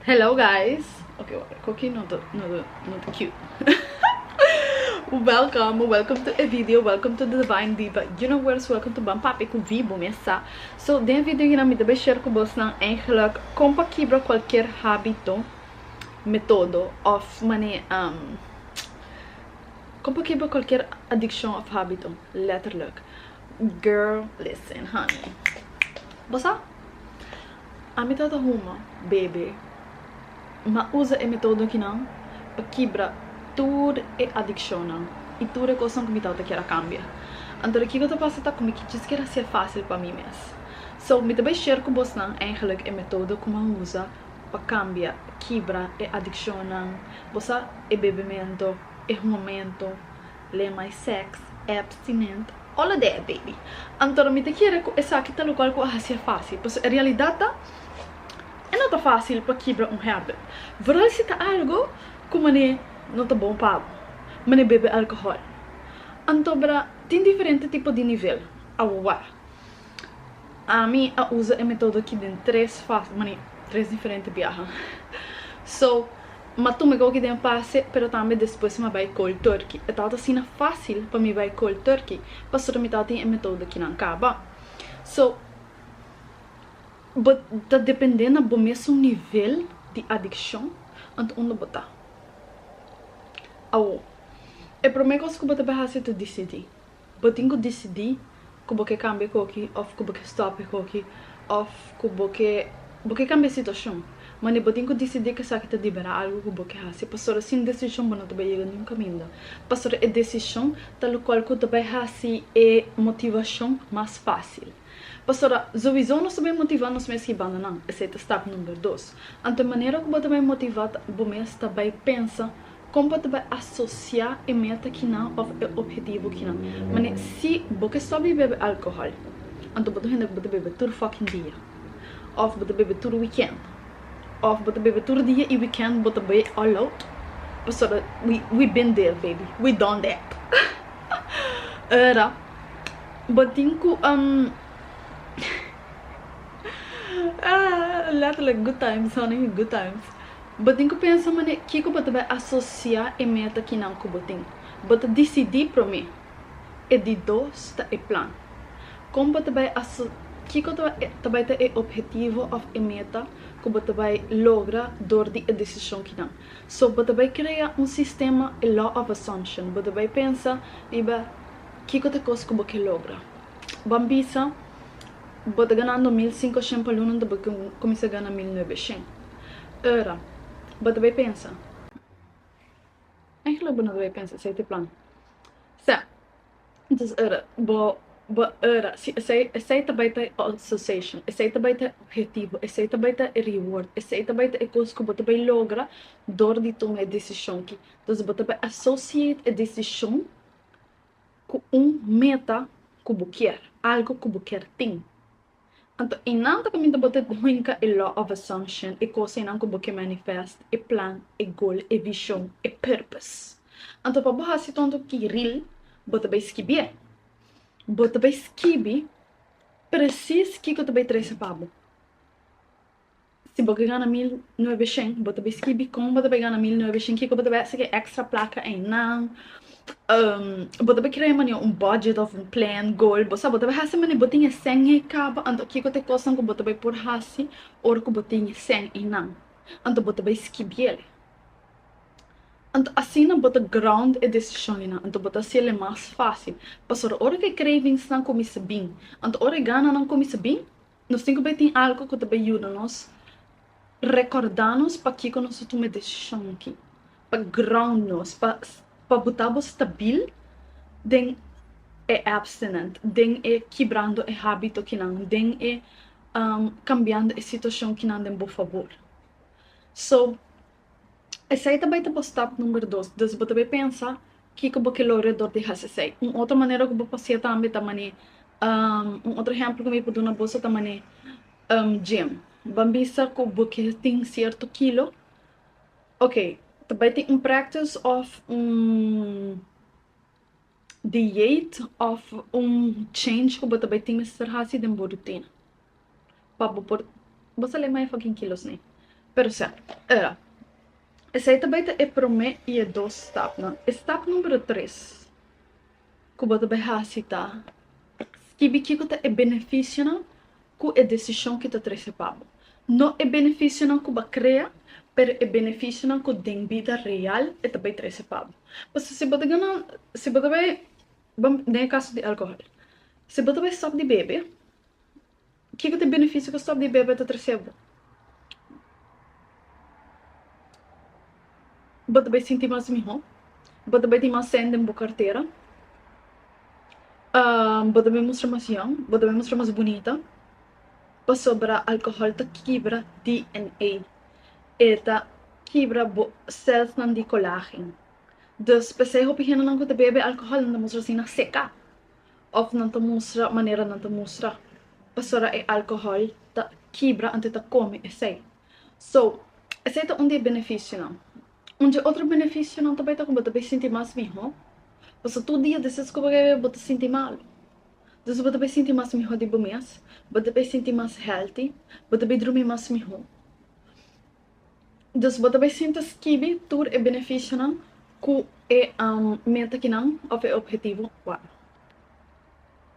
Hello guys Ok wak cu aki no ta cute Welcome welcome to e video welcome to the Divine Diva Universe welcome to Ban Papi cu Vivo mesa So den e video hierna mi ta bay share cu bosnan eigenlijk con pa kibra cualkier habito metodo of mane con pa kibra cualkier adiccion of habito letterlijk Girl listen honey bosa. A mi tata huma bebe ma usa e metodo akinan pa kibra tur e adikshonnan i tur e kosnan ku mi tata kier a kambia. Anto de kiko ta pasa ta ku mi kichis kier hasié fásil pa mi mes. So, mi ta bai share ku bosnan eingelik e metodo ku mi a usa pa kambia, kibra, e adikshonnan, bosa e bebemento, e hungamentu, Lema e sex, abstinent, o la dea e baby. Anto mi ta kere cu esaki ta locual cu a hacia facil, pasobra e realidad ta e no ta facil pa kibra un habit, vooral si ta algo cu mane no ta bon pa bo, mane bebe alcohol. Anto tin diferente tipo di nivel, awor. Ami a usa e metodo aki den tres fas, mani, tres diferente biaha. So, m'a tuma e goki den pase, pero tambe despues m'a bai cold turkey. E tabata asina fácil pa mi bai cold turkey pasobra mi tabatin e metodo akinan caba. So, bo ta depende na bo mes un nivel di adiccion, anto unda bo ta. Awo, e promé cos cu bo ta bay haci ta dicidi. Bo tin ku disidí ku bo ke kambia koki òf ku bo ke stòp e koki òf ku bo ke bo ke kambia e situashon. Manera bo tin ku disidí ku esaki ta debera algu ku bo ke hasi pasobra sin desishon bo no ta bai yega niun kaminda pasobra e desishon ta lokual ku ta bai hasi e motivashon mas fásil. Pastora, Zoizo nos ta bai motivá nos mes hibando nan, esei ta stap number dos. Anto e manera ku bo ta bai motivá ta bo mes ta bai pensa kon bo ta bai asosiá e meta kinan òf e ophetivo kinan. Manera si bo ke stòp di bebe alkohòl, anto bo ta un hende ku bo ta bebe tur fòking dia, òf bo ta bebe tur wikènt, òf bo ta bebe tur dia i wikènt bo ta bai all out. Pastora, We we been there baby, we done that. Ora. Bo tin cu um Letterlijk good times honey good times Bo tin cu pensa manera i kico bo ta bay asocia e meta kinan cu bo tin. Bo ta dicidi prome. E di dos ta e plan. Con bo ta bay asocia kico ta bay ta e objetivo of e meta cu bo ta bay logra door di e decision kinan. So bo ta bay crea un sistema e law of assumption. Bo ta bay pensa riba Kiko ta kos ku bo ke logra? Ban bisa, Bo ta ganando mil sinku shen pa lunan ta bo ke kuminsá gana mil nuebe shen. Ora bo ta bai pensa, Eigenlijk bo no ta bai pensa esei ta e plan. Sa, entonces ora bo bo ora si esei esei ta bai ta e association, esei ta bai ta e objetivo, esei ta bai ta e reward, esei ta bai ta e kos ku bo ta bai logra dor di tuma e desishon ki. Entonces bo ta bai associate e desishon cu un meta cu bo kier, algo cu bo kier tin. Anto e nan ta caminda bo te hinca e law of assumption, e cosa enan cu bo kier manifest, e plan, e goal, e vision, e purpose. Anto pa bo haci tonto kiril, bo ta bay skibié. Bo ta bay skibi precies kico ta bay trece pa bo. Si bo ke gana mil nuebe shen bo ta bai skibi kon bo ta bai gana mil nuebe shen kiko bo ta bai hasi ke extra plaka eynan bo ta bai krea e mane un budget of un plan goal bo sa bo ta bai hasi mane bo tin e shen ey kaba anto kiko ta e kosnan ku bo ta bai por hasi ora ku bo tin e shen eynan anto bo ta bai skibiel anto asina bo ta ground e desishon eynan anto bo ta hasiel e mas facil pasobra ora ku e cravings nan kuminsa bin anto ora e gananan kuminsa bin Nos tin ku bai tin algu ku ta bai yuda nos rekòrdá nos pakiko nos a tuma e desishon aki, pa ground nos, pa buta bo stabil den e abstinent, den e kibrando e hábito kinan, den e kambiando e situashon kinan den bo fabor. So. Esei ta bai ta bo stap number dos, dus bo ta bai pensa kiko bo ke logra dor di hasi esei. Un otro manera ku bo por haci'é tambe ta manera, un otro ehempel ku mi por duna boso ta manera gym, ban bisa ku bo ke tin cierto kilo, ok ta bai tin un practice of un. deiet of un change ku bo ta bai tin mester hasi den bo rutina pa bo por bo sali mai fucking kilos nei pero sa era esei ta bai ta e prome i e dos stapnan e stap numero tres ku bo ta bai hasi ta skibi kiko ta e benefisionan ku e desishon ki ta trese pa bo, no e benefisionan ku b'a krea, pero e benefisionan ku den bida real e ta bai trese pa bo. Pasobra si bo ta gana, si bo ta bai, bam den e kaso di alkohòl, si bo ta bai stòp di bebe, kiko ta e benefisio ku stòp di bebe ta trese bo? Bo ta bai sinti mas mihó, bo ta bai tin mas sen den bo kartera, bo ta bai mustra mas yòn, bo ta bai mustra mas bunita, pasobra alkohòl ta kibra DNA, e ta kibra bo sèlsnan di kolágen, dus p'esei hopi hendenan ku ta bebe alkohòl nan ta mustra asina seká. Of nan ta mustra manera nan ta mustra pasobra e alcohol ta kibra antes ta come esey. So esey ta un di e beneficionan. Un dje otro beneficionan ta bay ta cu bo ta bay sinti mas miho pasobra tur dia despues cu bo bebe bo ta sinti malo. Entonces bo ta bay sinti mas miho di bo mes, bo ta bay sinti mas healthy, bo ta bay drumi mas miho. Dus bo ta bai sinta skibi tur e benefisionan ku e meta kinan òf e ophetivo wak.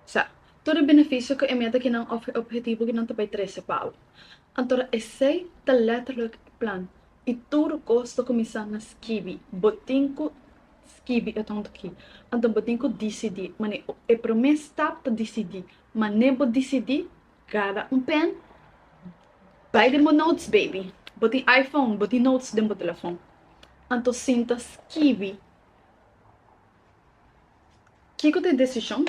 Sa, tur e benefisio ku e meta kinan òf e ophetivo kinan ta bai trese pa bo. Anto ra esei ta lètterlek e plan i tur kos ta kuminsá na skibi. Bo tin ku skibi e tonto aki. Anto bo tin ku disidí. Manera, e promé stap ta disidí. Manera bo disidí Cada un pen bay den bo notes baby bo tin iPhone bo tin notes den bo telefon anto sinta skibi kico ta e decision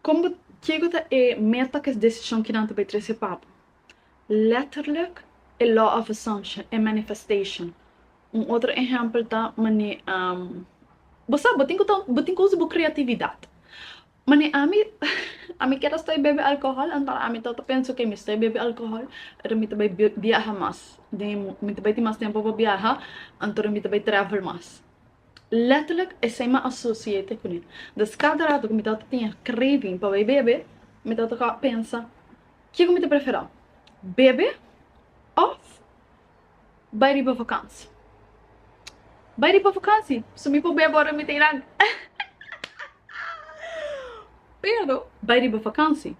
con bo kico ta e meta cu es decision kinan ta bay trece pa bo letterlijk e law of assumption e manifestation un otro ehempel ta mane bo sa bo tin cu usa bo creatividad Mane, ami ami kier a stoi bebe alcohol, anto ami ta penso ke mi stoi bebe alcohol ora mi ta bai biaha mas den e mundu, mi ta bai tin mas tempu pa biaha, anto ora mi ta bai travel mas. Letterlijk esei mi a associate kuné. Des kada rato ku mi tabata tin e craving pa bai bebe, mi tabata pensa, ke ku mi ta prefera, bebe òf. Bai riba vakansi. Bai riba vakansi so mi por bai abor den mi teinan. Pero bai riba vakansi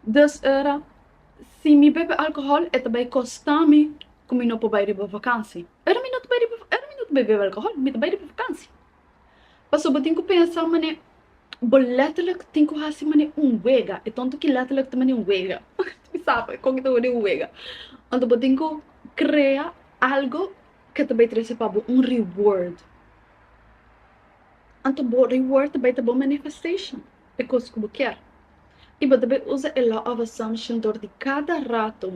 dus ora si mi bebe alcohol e ta bai costa mi cu mi no por bai riba vakansi. Ora mi no ta bai riba ora mi no ta bai bebe alcohol mi ta bai riba vakansi. Paso bo tin ku pensa man'e bo letterlik tin ku hasi man'e un wega, e tonto ki letterlik ta man'e un wega, mi sa pa kon ki ta word'e un wega, anto bo tin ku krea algo ke ta bai trese pa bo un reward, anto bo reward ta bai ta bo manifestation, e kos ku bo kier, i bo ta bai usa e law of assumption dor di kada rato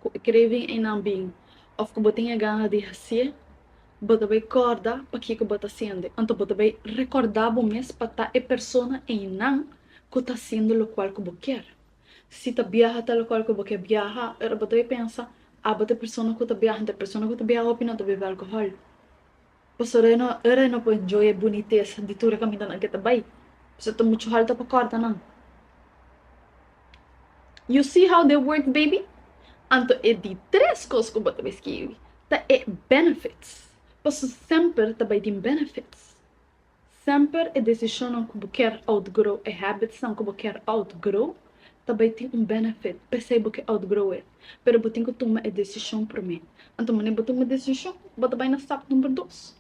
ku e kreevi einan bin òf ku bo tin e gana di hasi'e, Bo ta bay corda pakico bo ta sende, anto bo ta bay recorda bo mes pa ta e persona eynan cu ta haciendo locual cu bo kier. Si ta biaha ta locual cu bo kier biaha, pero bo ta bay pensa, abo ta e persona cu ta biaha, anto e persona cu ta biaha hopi no ta bebe alcohol. Pasobra e no, ora e no por enjoy e bunitesa di tur e camindanan cu e ta bay, pasobra ta mucho halta pa corda nan. You see how they work baby? Anto e di tres kos ku bo ta bai skibi ta e benefits, paso semper ta bai tin benefits. Semper e desishonnan ku bo ker outgrow, e habitsnan ku bo ker outgrow, ta bai tin un benefit p'esei bo ke outgrow e. Pero bo tin ku tuma e desishon promé. Anto wanneer bo tuma e desishon, bo ta bai na stap number dos.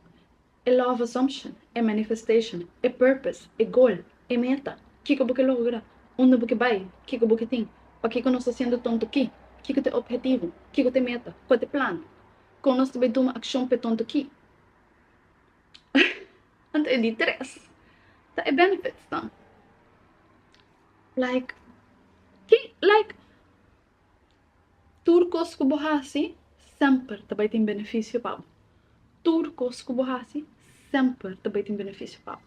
E love assumption, e manifestation, e purpose, e goal, e meta, kiko bo ke logra, unda bo ke bai, kiko bo ke tin, pakiko nos ta siendo tonto aki, kiko ta e ophetivo, kiko ta e meta, kua ta e plano, kon nos ta bai tuma akshon pa e tonto aki. Anto e di tres ta e benefits nan. Like, ke like. Tur kos ku bo hasi semper ta bai tin benefisio pa bo. Tur kos ku bo hasi semper ta bai tin benefisio pa bo.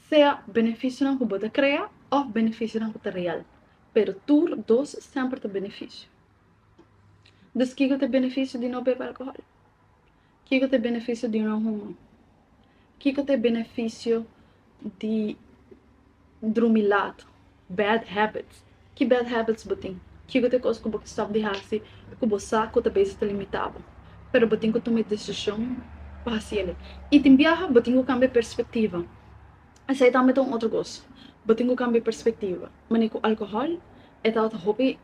Sea benefisionan ku bo ta krea òf benefisionan ku ta real, pero tur dos semper ta benefisio. Dus kiko ta e benefisio di no bebe alkohòl? Kiko ta e benefisio di un hohoman? Kiko ta e benefisio di drumi lat, bad habits? Ki bad habits bo tin? Kiko ta e kos ku bo ta stop di hasi ku bo sa ku ta bes ta limitá bo, pero bo tin ku tuma e desishon pa hasi el? I tin biaha bo tin ku kambia e perspektiva, esei tambe ta un otro kos, bo tin ku kambia e perspektiva. Manera ku alkohòl, e tabata hopi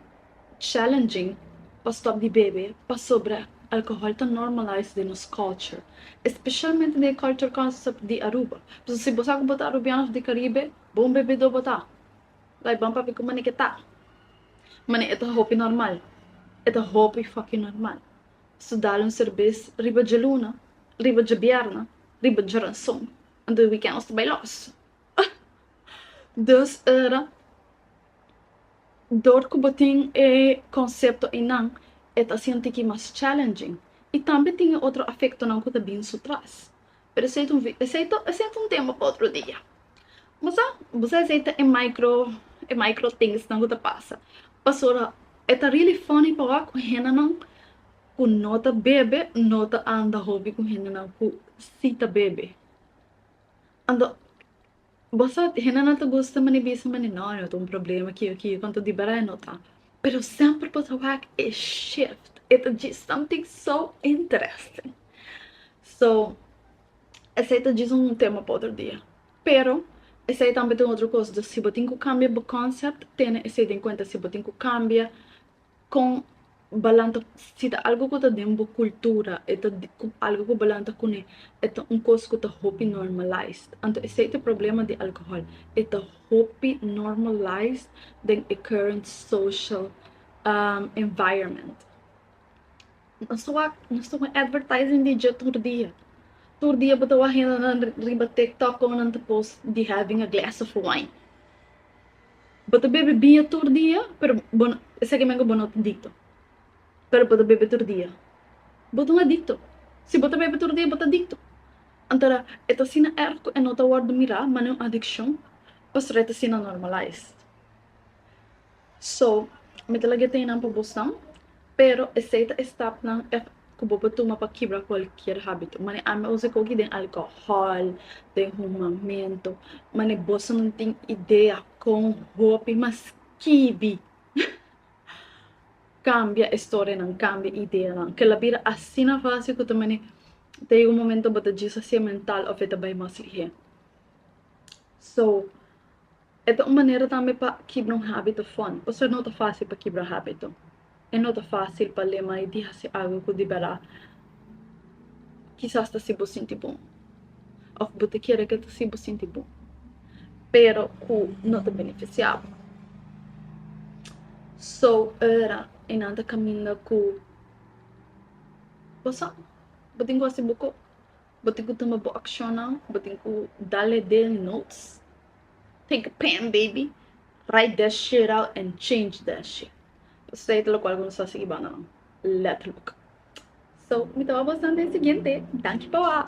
challenging pa stop di bebe pasobra alcohol ta normalize den nos culture especialmente den e culture concept di Aruba pasobra si bo sa cu bo ta Arubian of di Caribe bo un bebedo bo ta like ban papia cu mane ke ta mane e ta hopi normal e ta hopi fucking normal so dal un serbes riba dje luna riba dje bierna riba dje ranson anto e weekend nos ta bay los ah! dus ora dor ku bo tin e konsepto einan e ta sinti ki mas challenging i tambe tin e otro afektonan ku ta bin su tras. Pero esei ta un vi, esei ta, esei ta un tema pa otro dia. Bo sa, bo sa esei ta e micro, e micro thingsnan ku ta pasa. Pasobra e ta really funny pa wak ku hendenan ku no ta bebe no ta anda hopi ku hendenan ku si ta bebe. Anto Bosot, hende no ta gusta mane bisa mane no, no ta un problema ki yo ki yo, konta di bardad no ta. Pero semper bo ta wak e shift, e ta djis something so interesting. So, esei ta djis un tema pa otro dia. Pero, esei tambe ta un otro kos, dus si bo tin ku kambia bo concept, tene esei den kuenta, si bo tin ku kambia Kon balan ta si ta algu ku ta den bo kultura e ta algu ku balan ta kuné e ta un kos ku ta hopi normalais anto esei ta e problema di alkohòl e ta hopi normalais den e current social environment nos ta wak nos ta wak advertising di dje tur dia tur dia bo ta wak hendenan riba tiktok komo nan ta post di having a glass of wine. Bo ta bebe biña tur dia, pero bo no, esaki menge bo no ta dikto, pero bo ta bebe tur dia, bo ta un adikto. Si bo ta bebe tur dia bo ta dikto. Antora e ta asina erg ku e no ta wòrdu mirá mane un adikshon pastor e ta asina normalize. So mi ta laga e teinnan pa bosnan, Pero esei ta e stapnan ku bo por tuma pa kibra kualkier hábito. Mane ami a usa koki den alkohòl, den humamentu. Mane boso no tin idea kon hopi mas kibi kambia e storianan, kambia e ideanan. Kel a bira asina fásil ku ta mane ta yega un momento bo ta disosia mental òf e ta bai mas lihé. So. E ta un manera tambe pa kibra un hábito fon. Pasobra no ta fásil pa kibra hábito. E no ta fásil pa lema i di hasi algu ku di bèrdat kisas ta hasi bo sinti bon òf bo ta kere ku e ta hasi bo sinti bon, pero ku no ta benefisiá bo. So ora e nan ta kaminda ku pasobra bo tin ku hasi bo kos. Bo tin cu tuma bo accionnan, bo tin cu da lede notes. Take a pen baby, write that shit out and change that shit. Pasobra e ta locual cu nos ta sigui banda nan, letterlijk. So, mi ta wak bo santa e siguiente. Danki pa wak.